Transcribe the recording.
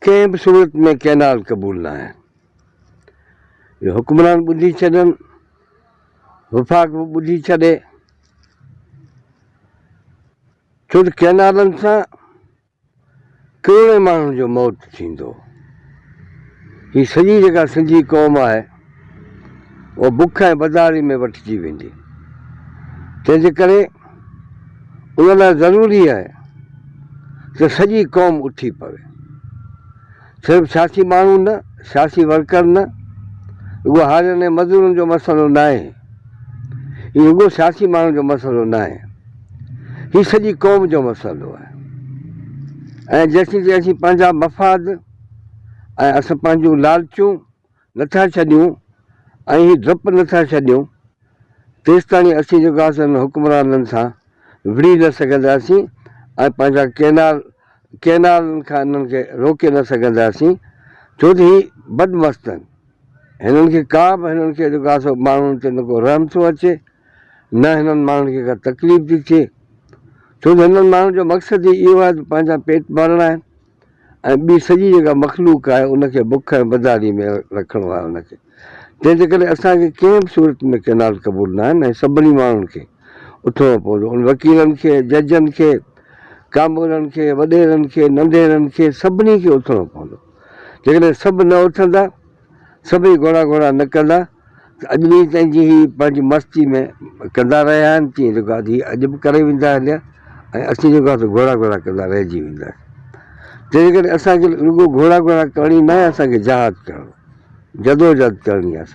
ڪنهن به صورت ۾ ڪئنال قبول ناهي. اهو حڪمران ٻڌي ڇڏن، وفاق به ٻڌي ڇڏي، ڇو ته ڪئنالن سان ڪروڙين ماڻهن جو موت ٿيندو. هي سڄي جيڪا سنڌي قوم آهي. اها بک ۽ بدحالي ۾ وٺجي ويندي. تنهن جي ڪري ان لاء ضروري آهي ته سڄي قوم اٿي پوي. صرف سياسي ماڻهو نه، سياسي ورڪر نه، رڳو هارين ۽ مزورن جو مسئلو ناهي. هي رڳو سياسي ماڻهن جو مسئلو ناهي. هي سڄي قوم جو مسئلو آهي ۽ جيسين تيسين پنهنجا مفاد ۽ اسان پنهنجون لالچون، نٿا ڇڏيون ۽ هي ڊپ نٿا ڇڏيون تيستاڻي اسين جيڪو آسي انهن حڪمرانن سان وڙهي نه سگهنداسين ۽ پنهنجا ڪينال ڪينالن کان انهن کي روڪي نه سگهنداسين ڇو ته هي بدمستن هنن کي ڪا به هنن کي جيڪو آسي ماڻهن تي نه ڪو رحم ٿو اچي نه هنن ماڻهن کي ڪا تڪليف ٿي ٿئي ڇو ته هنن ماڻهن جو مقصد ئي اهو آهي ته پنهنجا پيٽ ڀرڻا آهن ۽ ٻي سڄي جيڪا مخلوق آهي ان کي بک ۽ بدحالي ۾ رکڻو آهي ان کي تنهن جي ڪري اسان کي ڪنهن به صورت ۾ ڪئنال قبول ناهن ۽ سڀني ماڻهن کي اٿڻو پوندو ان وڪيلن کي ججن کي ڪامورن کي وڏيرن کي ننڍيرن کي سڀني کي اٿڻو پوندو جيڪڏهن سڀ نه اٿندا سڀئي گهوڙا گهوڙا نه ڪندا ته اڄ به تنهن جي هي پنهنجي مستي ۾ ڪندا رهيا آهن تيئن جيڪو آهي هي اڄ به ڪري ويندا هليا ۽ اسين جيڪو آهي سو گهوڙا گهوڙا ڪندا رهجي وينداسين تنهنجي ڪري اسان کي رڳو گهوڙا گهوڙا ڪرڻي ناهي اسان کي جهاد ڪرڻو جدوجهد ڪرڻي آهي